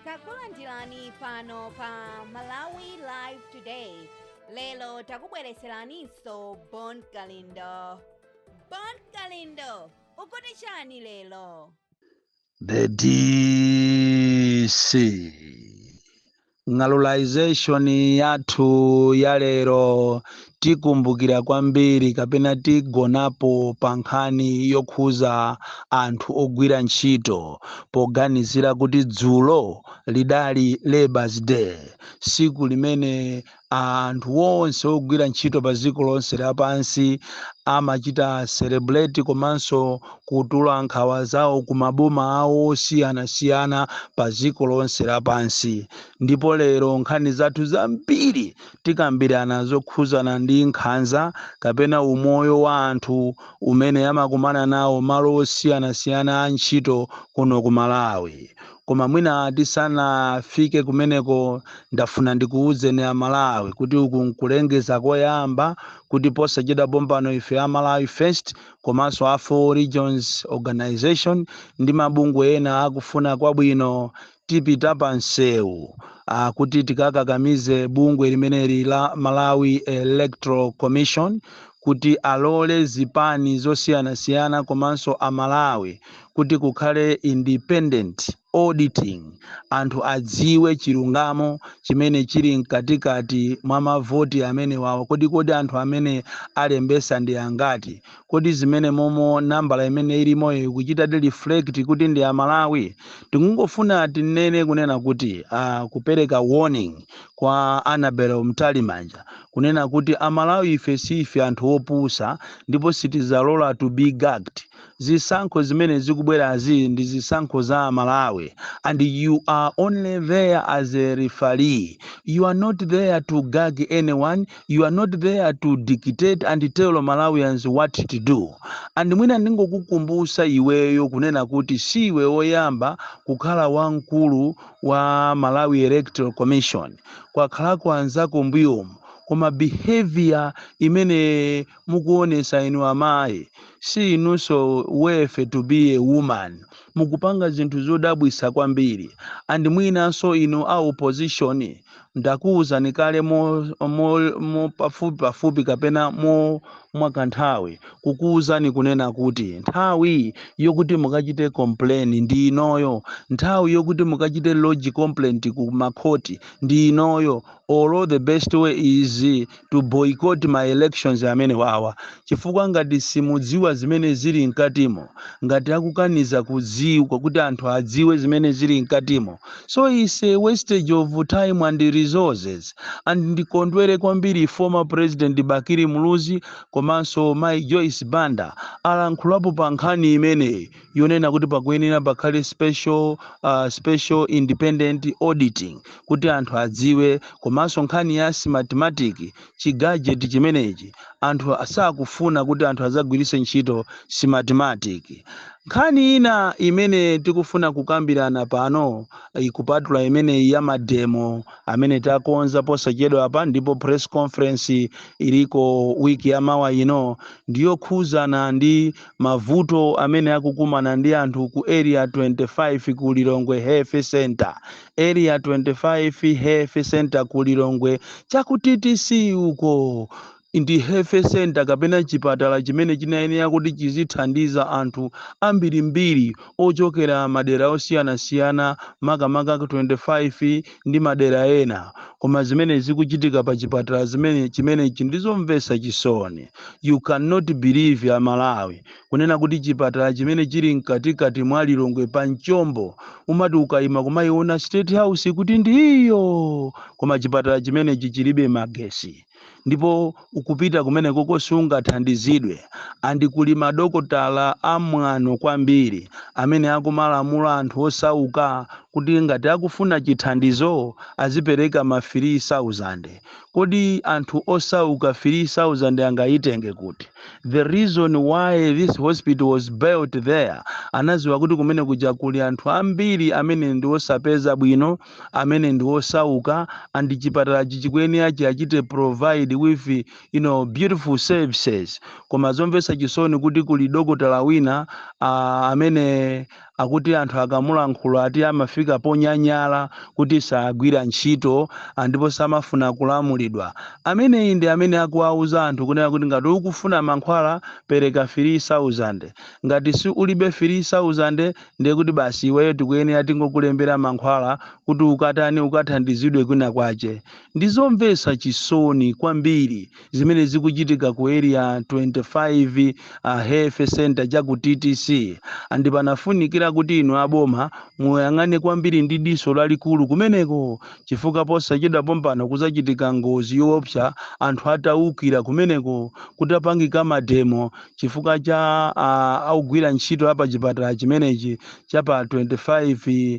takulandirani pano pa malawi live today lero takubwereseraninso bon kalindo bon kalindo ukuti chani lero The DC. Ng'alulaization yathu ya lero tikumbukira kwambiri kapena tigonapo pa nkhani yokhuza anthu ogwira ntchito poganizira kuti dzulo lidali Labour's Day, siku limene anthu onse ogwira ntchito pa dziko lonse lapansi amachita celebrate komanso kutula nkhawa zawo ku maboma awo osiyanasiyana pa dziko lonse lapansi ndipo lero nkhani zathu zambiri tikambirana zokhuzana ndi nkhanza kapena umoyo wa anthu umene amakumana nawo malo osiyanasiyana a ntchito kuno ku malawi koma mwina tisanafike kumeneko ndafuna ndikuwuzeni amalawi kuti uku nkulengeza koyamba kuti posachedwa pompano ife a malawi first komanso a four regions organization ndi mabungwe ena akufuna kwabwino tipita pa msewu ah, kuti tikakakamize bungwe limeneli la malawi electoral commission kuti alole zipani zosiyanasiyana komanso a Malawi kuti kukhale independent auditing, anthu adziwe chilungamo chimene chili mkatikati mwa mavoti amenewawa. Kodi kodi anthu amene alembesa ndi angati? Kodi zimene momo nambala imene ilimoyo ikuchitadi reflect kuti ndi a Malawi? Tikungofuna tinene kunena kuti uh, kupereka warning kwa Annabel Mtalimanja kunena kuti amalawi ife siife anthu opusa ndipo sitizalola to be gagged zisankho zimene zikubwerazi ndi zisankho za amalawi and you are only there as a referee you are not there to gag anyone you are not there to dictate and tell malawians what to do and mwina ndingokukumbusa iweyo kunena kuti siiwe oyamba kukhala wamkulu wa Malawi Electoral Commission kwakhalako anzako mbuyomu koma behavior imene mukuonesa inu amayi si inunso worthy to be a woman mukupanga zinthu zodabwisa kwambiri and mwinanso inu a opposition ndakuuzani kale mo pafupi pafupi kapena mo mwakanthawi kukuuzani kunena kuti nthawi yokuti mukachite complain ndi inoyo nthawi yokuti mukachite lodge complaint ku makhoti ndi inoyo olo the best way is to boycott ma elections amenewawa chifukwa ngati simudziwa zimene zili mkatimo ngati akukaniza kudziwa kuti anthu adziwe zimene zili mkatimo so it's a wastage of time and resources and ndikondwere kwambiri former president bakili muluzi komanso mai joyce banda alankhulapo pa nkhani imeneyi yonena kuti pakuyenera pakhale special, uh, special independent auditing kuti anthu adziwe komanso nkhani ya smartmatic chigadget chimenechi anthu sakufuna kuti anthu azagwiritse ntchito smartmatic nkhani ina imene tikufuna kukambirana pano ikupatula imeneyi ya mademo amene takonza posachedwa apa ndipo press conference iliko wiki ya mawa ino ndiyokhuzana ndi mavuto amene akukumana ndi anthu ku area 25 ku lilongwe health center area 25 health center ku lilongwe cha ku TTC uko ndi health center kapena chipatala chimene chinayenera kuti chizithandiza anthu ambirimbiri ochokera madera osiyanasiyana makamaka ku 25 ndi madera ena koma zimene zikuchitika pa chipatala chimenechi ndizomvesa chisoni you cannot believe a malawi kunena kuti chipatala chimene chili mkatikati mwa lilongwe pa mchombo umati ukaima kumaiona state house kuti ndiyo koma chipatala chimenechi chilibe magesi ndipo ukapita kumenekoko sungathandizidwe and kuli madokotala amwano kwambiri amene akumalamula anthu osauka kuti ngati akufuna chithandizo azipereka ma 3000 kodi anthu osauka 3000 angayitenge kuti the reason why this hospital was built there anaziwa kuti kumene kuja kuli anthu ambiri amene ndi osapeza bwino amene ndi osauka and chipatalachi chikuyenera chiwachite provide with you know beautiful services koma zomvesa chisoni kuti kuli dokotala wina uh, amene akuti anthu akamulankhula ati amafika ponyanyala kuti sagwira ntchito ah, ndipo samafuna kulamulidwa ameneyi ndi amene akuwauza anthu kunena kuti ngati ukufuna mankhwala pereka 3000 ngati si ulibe 3000 ndiye kuti basi iweyo tikuyenera tingokulembera mankhwala kuti ukatani ukathandizidwe kwina kwache ndizomvetsa chisoni kwambiri zimene zikuchitika ku area 25 uh, health center cha ku ttc andi panafunikira kuti inu aboma muyang'ane kwambiri ndi diso lalikulu kumeneko chifukwa posachedwa pompano kuzachitika ngozi yoopsa anthu ataukira kumeneko kutapangika mademo chifukwa cha uh, ogwira ntchito a pachipatala chimenechi cha pa 25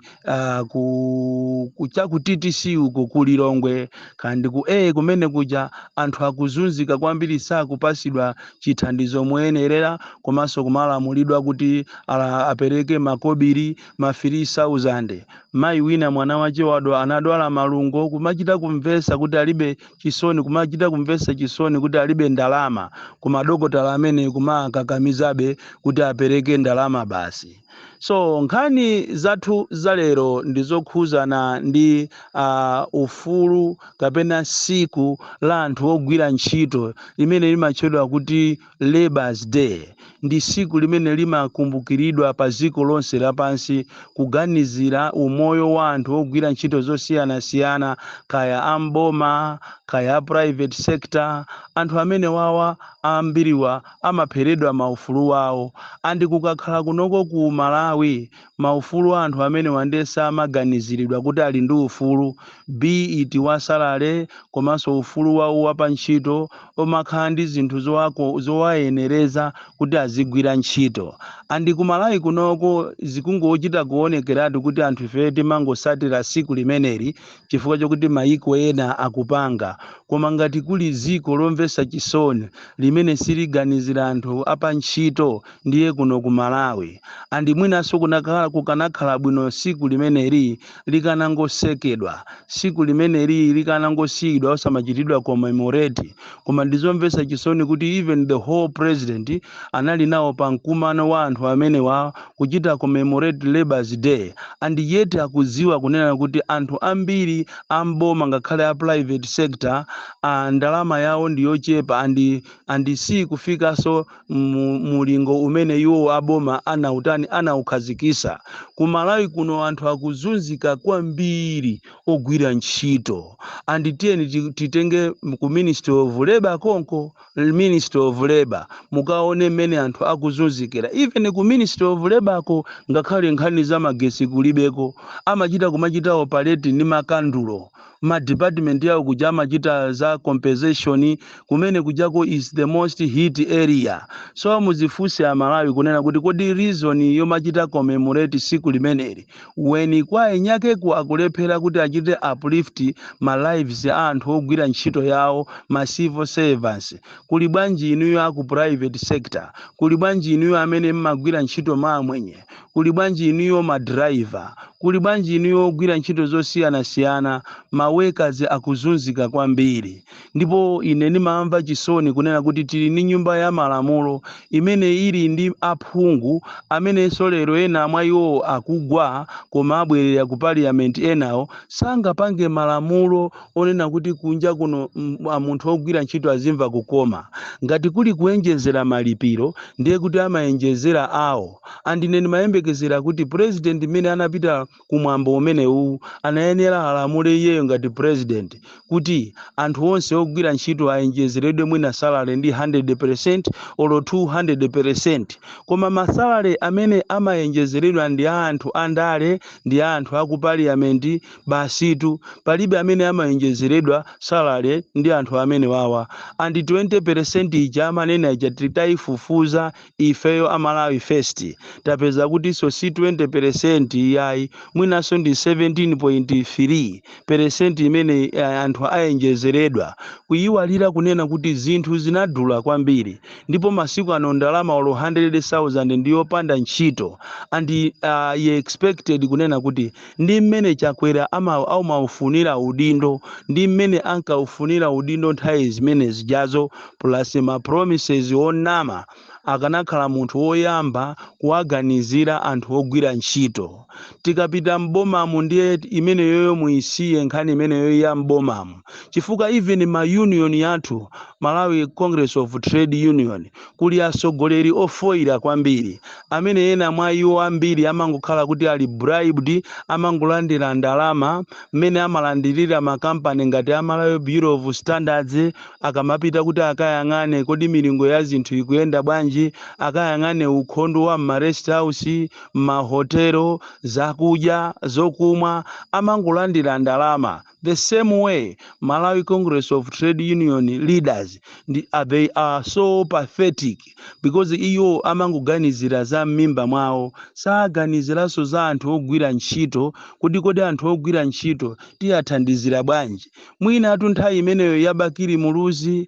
uh, ku, ku cha ku TTC uko ku Lilongwe andi ku A kumene kuja anthu akuzunzika kwambiri sakupasidwa chithandizo moyenerera komanso kumalamulidwa kuti ala, apereke makobiri ma 3000 mayi wina mwana wache wadwa- anadwala malungo kumachita kumvesa kuti alibe chisoni kumachita kumvetsa chisoni kuti alibe ndalama koma adokotala amene kumakakakamizabe kuti apereke ndalama basi so nkhani zathu za lero ndi zokhuzana ndi uh, ufulu kapena siku la anthu ogwira ntchito limene limatchedwa kuti Labour's Day ndi siku limene limakumbukiridwa pa dziko lonse lapansi kuganizira umoyo wa anthu ogwira ntchito zosiyanasiyana kaya a m'boma kaya a private sector anthu amenewawa ambiri iwo amapheredwa ma ufulu wawo and kukakhala kunoko ku Malawi maufulu a anthu amenewa nde samaganiziridwa kuti ali ndi ufulu be it wa salary komanso ufulu wawo wa pa ntchito womakhala ndi zinthu zowayenereza kuti azigwira ntchito and ku Malawi kunoko zikungochita kuonekeratu kuti anthu ifeyo timangosatira siku limeneli chifukwa chokuti mayiko ena akupanga koma ngati kuli ziko lomvetsa chisoni limene siliganizira anthu a pa ntchito ndiye kuno ku Malawi and mwinanso kukanakhala bwino siku limeneli likanangosekedwa, siku limeneli likanangosiyidwa osamachitidwa commemorate, koma ndizomvesa chisoni kuti even the whole president anali nawo pa mkumano wa anthu amenewa kuchita commemorate labour's day and yet akudziwa kunena kuti anthu ambiri a m'boma ngakhale a private sector aah ndalama yawo ndiyochepa and and siikufikanso mulingo umene iwo aboma anautani anaukhazikisa ku malawi kuno anthu akuzunzika kwambiri ogwira ntchito and tiyeni ti- titenge m- ku ministry of labor konko l- ministry of labor mukaone mmene anthu akuzunzikira even ku ministry of labor ko ngakhale nkhani za magesi kulibeko amachita kumachita operate ndi makandulo ma department yawo kuja amachita za compensation kumene kujako is the most hit area so muzifunse amalawi kunena kuti kodi reason yomachita commemorate siku limeneli when kwa eniakeku akulephera kuti achite uplift ma lives a anthu ogwira ntchito yawo ma civil servants kuli bwanji inuyo aku private sector kuli bwanji inuyo amene mmagwira ntchito mmaamwenye Kuli bwanji inuyo ma driver? Kuli bwanji inuyo ogwira ntchito zosiyanasiyana? Ma workers akuzunzika kwambiri. Ndipo ine ndimamva chisoni kunena kuti tili ni nyumba ya malamulo imene ili ndi aphungu amenenso lero ena mwa iwo akugwa koma abwerera ku parliament enawo sangapange malamulo onena kuti kunja kuno munthu ogwira ntchito azimva kukoma ngati kuli kuenjezera malipiro ndiye kuti amaenjezera awo and ine ndimayembekezera kuti president imene anapita kumwambo umenewu anayenera alamule iyeyo ngati president kuti anthu onse ogwira ntchito aenjezeredwe mwina salary ndi 100% olo 200% koma masalary amene amaenjezeredwa ndi a anthu andale ndi a anthu aku parliament Basitu, palibe amene amaenjezeredwa salary ndi anthu amenewawa. And 20% ija amanena ija titaifufuza ifeyo a Malawi First, tapeza kutinso si 20% iyayi, mwinanso ndi 17.3% imene anthu aenjezeredwa. Kuiwalira kunena kuti zinthu zinadula kwambiri ndipo masiku ano ndalama olo 100,000 ndi yopanda ntchito and I expected kunena kuti ndi mmene Chakwera amaufunira udindo ndi mmene ankaufunira udindo nthawi zimene zijazo plus ma promises onama akanakhala munthu woyamba kuwaganizira anthu ogwira ntchito tikapita m'bomamu ndiye imeneyoyo muisiye nkhani imeneyo ya m'bomamu chifukwa even ma union yathu Malawi Congress of Trade Union kuli atsogoleri ofoira kwambiri, amene ena mwa iwo ambiri amangokhala kuti ali bribed, amangolandira ndalama, mmene amalandirira makampani ngati a Malawi Bureau of Standards, akamapita kuti akayang'ane kodi milingo ya zinthu ikuyenda bwanji, akayang'ane ukhondo wa mma rest house, mahotelo, zakudya, zokumwa, amangolandira ndalama. The same way Malawi Congress of Trade Union leaders, uh, they are so pathetic because iwo amangoganizira za m'mimba mwawo saganiziranso za anthu ogwira ntchito kuti kodi anthu ogwira ntchito tiyathandizira bwanji mwinatu nthawi imeneyo ya Bakili Muluzi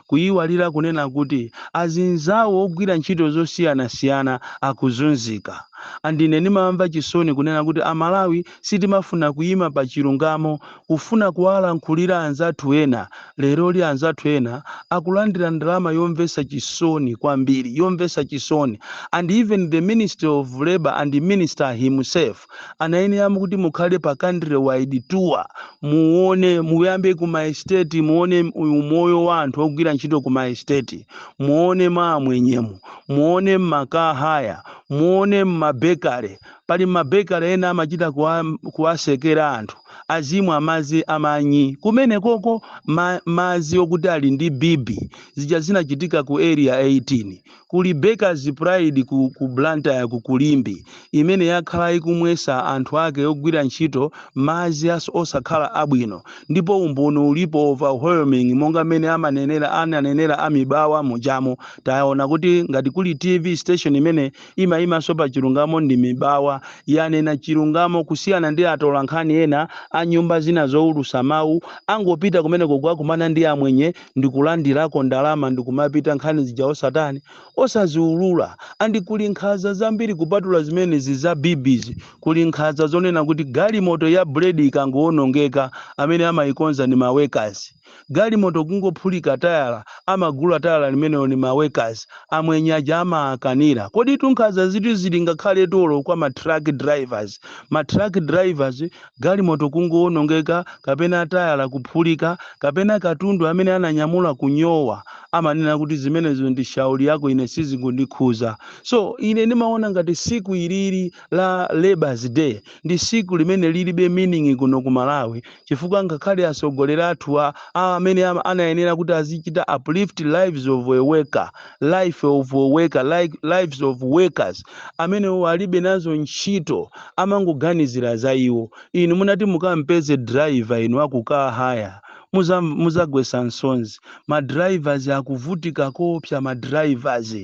kuyiwalira kunena kuti azinzawo ogwira ntchito zosiyanasiyana akuzunzika and ine ndimamva chisoni kunena kuti a Malawi sitimafuna kuyima pa chilungamo kufuna kuwalankhulira anzathu ena, leroli anzathu ena akulandira ndalama yomvetsa chisoni kwambiri, yomvetsa chisoni and even the ministry of labour and the minister himself. anayenera kuti mukhale pa country wide tour muone muyambe ku ma estate muone umoyo wa anthu ogwira ntchito ku ma estate muone mwa amwenyemu muone mmakahaya muone mmabekale pali mabekale ena amachita kuwatsekera anthu azimwa madzi amanyi kumene koko, madzi okuti ali ndi bibi zija zinachitika ku area 18 Kuli Bakers Pride ku ku Blantyre ku ku Limbe imene yakhala ikumwesa anthu ake ogwira ntchito madzi a osakhala abwino ndipo umboni ulipo overwhelming monga mmene amanenera ananenera a Mibawa mujamo taona kuti ngati kuli TV station imene imaimanso pa chilungamo ndi Mibawa yanena chilungamo kusiyana ndi atolankhani ena a nyumba zina zoulusa mau angopita kumeneko kukakumana ndi amwenye ndikulandirako ndalama ndikumapita nkhani zija osatani osaziulula and kuli nkhaza zambiri kupatula zimenezi za bibizi kuli nkhaza zonena kuti galimoto ya bread ikangowonongeka amene amayikonza ni ma workers galimoto kungophulika tayala amagula tayala limenelo ni ma workers amwenye aja amaakanira koditu nkhazazitu zili ngakhale tolo kwa ma truck drivers ma truck drivers Galimoto kungowonongeka kapena tayala kuphulika kapena katundu amene ananyamula kunyowa, amanena kuti zimenezo ndi shauri yako ine sizikundikhuza. So, ine ndimaona ngati siku ilili la labour's day ndi siku limene lilibe meaning kuno ku Malawi chifukwa ngakhale atsogoleri athu a amene ama anayenera kuti azichita uplift lives of a worker, life of a worker, life, lives of workers amenewo alibe nazo ntchito. amangoganizira za iwo. Inu munati mukampeze driver inu aku car hire muzamva muzagwesa msozi. Ma drivers akuvutika koopsa ma drivers.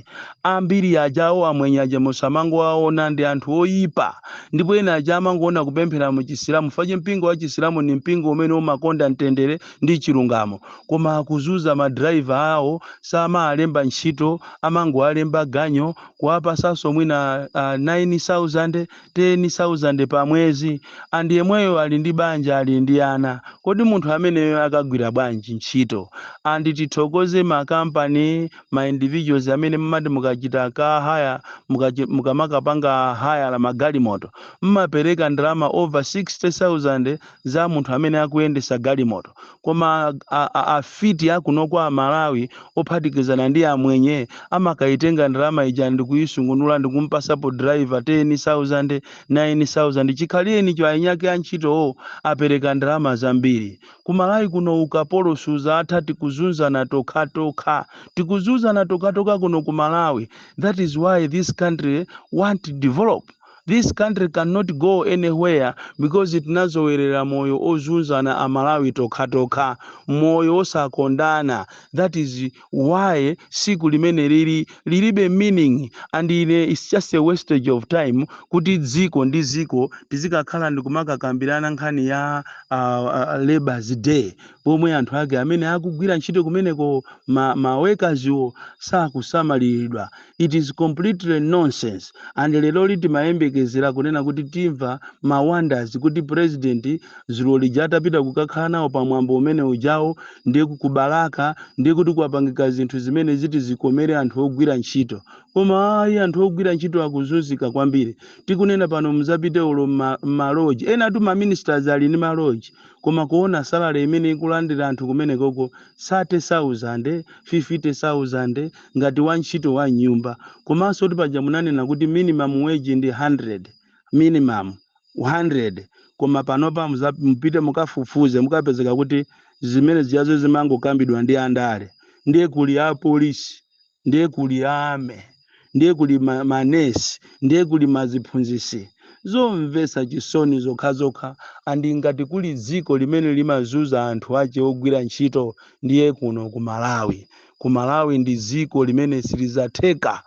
Ambiri aja awo amwenye aja musamangowaona ndi anthu oyipa. Ndipo ena aja amangoona kupemphera mu chisilamu fache mpingo wa chisilamu ndi mpingo umene umakonda mtendere ndi chilungamo. Koma akuzunza ma driver awo samaalemba ntchito amangowalemba ganyu kuwapasanso mwina uh, 9000 10000 pa mwezi and yemweyo ali ndi banja ali ndi ana kodi munthu ameneyo akagwira bwanji ntchito and tithokoze ma company ma individuals amene mmati mukachita car hire mukachi- mukamakapanga hayala magalimoto mmapereka ndalama over 60000 za munthu amene akuyendesa galimoto koma afiti a kunoko a Malawi ophatikizana ndi amwenye amakaitenga ndalama ija ndikuisungunula ndikumpasapo driver 10,000 9,000 chikhalirenicho ainyake antchitowo apereka ndalama zambiri ku Malawi kuno ukapolo suzatha tikuzunzana tokhatokha tikuzunzana tokhatokha kuno ku Malawi that is why this country won't develop This country can not go any where because tinazowerera moyo ozunzana a Malawi tokhatokha, moyo wosakondana that is why siku limenelili lilibe meaning and ine it's just a wastage of time kuti dziko ndi dziko tizikakhala ndikumakakambirana nkhani ya uh, uh, labour's day pomwe anthu ake amene akugwira ntchito kumeneko ma, ma workers wo sakusamaliridwa it is completely nonsense and lero li timayembekezera kunena kuti timva ma wonders kuti president zulo lija atapita kukakhala nawo pa mwambo umene ujawo ndiye kukubalalika ndiye kuti kwapangika zinthu zimene ziti zikomere anthu ogwira ntchito koma ayi anthu ogwira ntchito akuzunzika kwambiri tikunena pano muzapite olo mma- mmaloji enatu ma ministers ali ndi maloji koma kuona salary imene ikulandira anthu kumenekoko 30000 50000 ngati wantchito wa m'nyumba komanso kuti paja munanena kuti minimum wage ndi 100 minimum 100 koma panopa muza- mupite mukafufuze mukapezeka kuti zimene zijazo zimangokambidwa ndi andale ndiye kuli apolisi ndiye kuli army ndiye kuli ma- manesi ndiye kuli maziphunzisi zomvetsa chisoni zokhazokha andi ngati kuli dziko limene limazuza anthu ache ogwira ntchito ndiye ndi kuno ku malawi ku malawi ndi dziko limene silizatheka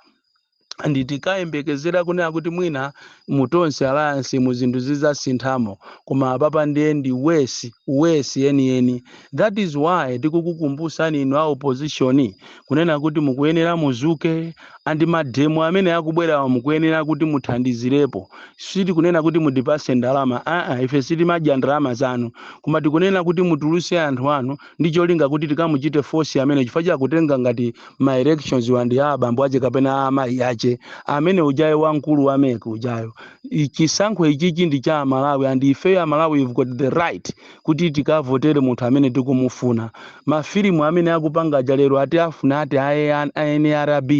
and tinkayembekezera kunena kuti mwina mu tonse alliance mu zinthu zizasinthamo koma apapa ndiye ndi worse worse yeniyeni that is why tikukukumbusani inu a opposition kunena kuti mukuyenera muzuke and mademo amene akubwerawa mukuyenera kuti muthandizirepo sitikunena kuti mutipase ndalama aa ife sitimadya ndalama zanu koma tikunena kuti mutuluse anthu anu ndi cholinga kuti tikamuchite force amene chifukwa akutenga ngati ma elections wa ndi a abambo ache kapena a amayi ache amene ujayo wamkulu wa mec ujayo chisankho ichichi ndi cha amalawi and ifeyo amalawi we've got the right kuti tikavotere munthu amene tikumufuna mafilimu amene akupanga aja lero ati afuna ati a nrb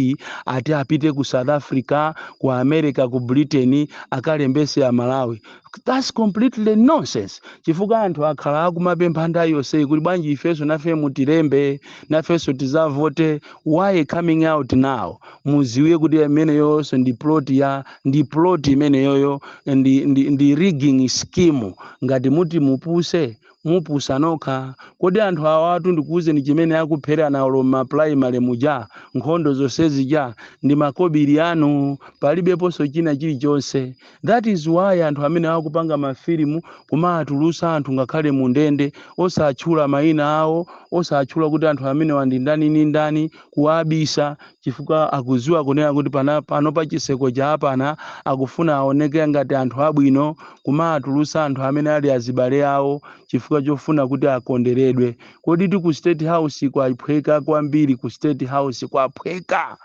ati apite ku south africa ku america ku britain akalembese amalawi thats completely nonsense chifukwa anthu akhala akumapempha nthawi yonseyi kuti bwanji ifenso nafe mutilembe nafenso tizavote why coming out now muziwe kuti imeneyonso ndi plot ya ndi plot imeneyoyo ndi, ndi, ndi rigging scheme ngati muti mupuse mupusa nokha kodi anthu awatu ndikuuzeni chimene akupherana olo mma primary muja nkhondo zonsezija ndi makobiri anu palibeponso china chilichonse that is why anthu amene akupanga mafilimu kumaatulutsa anthu ngakhale mu ndende osatchula mayina awo osatchula kuti anthu amenewa ndi ndani ndi ndani kuwabisa chifukwa akuziwa kunena kuti pana, pano pa chiseko chaapana akufuna aoneke ngati anthu abwino kumatulusa anthu amene ali azibale awo chifukwa chofuna kuti akonderedwe kodi ti ku state house kwaphweka kwambiri ku state house kwaphweka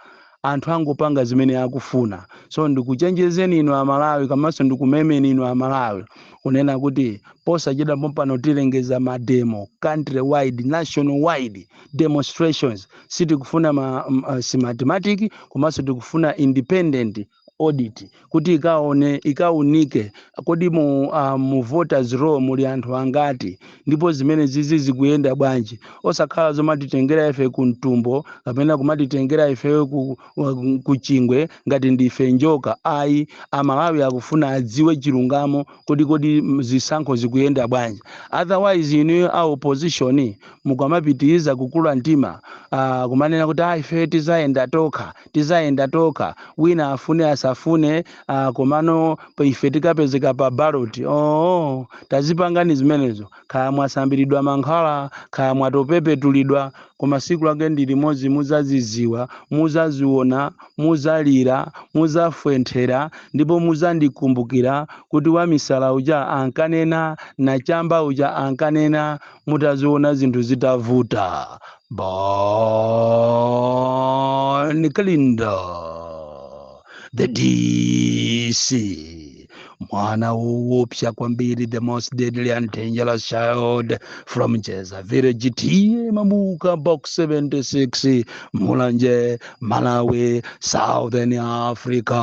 anthu angopanga zimene akufuna so ndikuchenjezeni inu amalawi komanso ndikumemeni inu amalawi kunena kuti posachedwa pompano tilengeza mademo country wide national wide demonstrations sitikufuna ma, m- uh, smartmatic komanso tikufuna independent audit kuti ikaone ikaunike kodi mu, uh, mu voters roll muli anthu angati ndipo zimenezizi zikuyenda bwanji osakhala zomatitengera ife ku mtumbo kapena kumatitengera ife ku, ku- ku chingwe ngati ndife njoka ayi amalawi akufuna adziwe chilungamo kodi kodi m- zisankho zikuyenda bwanji otherwise inu a opposition mukamapitiriza kukula mtima, ah, kumanena kuti, ah, ife tizayenda tokha, tizayenda tokha, wina afune asafune, ah, komano pa- ife tikapezeka pa ballot. Oh, tazipangani zimenezo. Kaya mwasambiridwa mankhwala, kaya mwatopepetulidwa, koma siku lake ndi limodzi muzaziziwa, muzaziona, muzalira, muzafwenthera, ndipo muzandikumbukira kuti wamisala uja ankanena, nachamba uja ankanena, mutaziona zinthu zitavuta bon kalindo the dc mwana woopsa kwambiri the most deadly and dangerous child from njedza village t/a mabuka box 76 mulanje malawi southern africa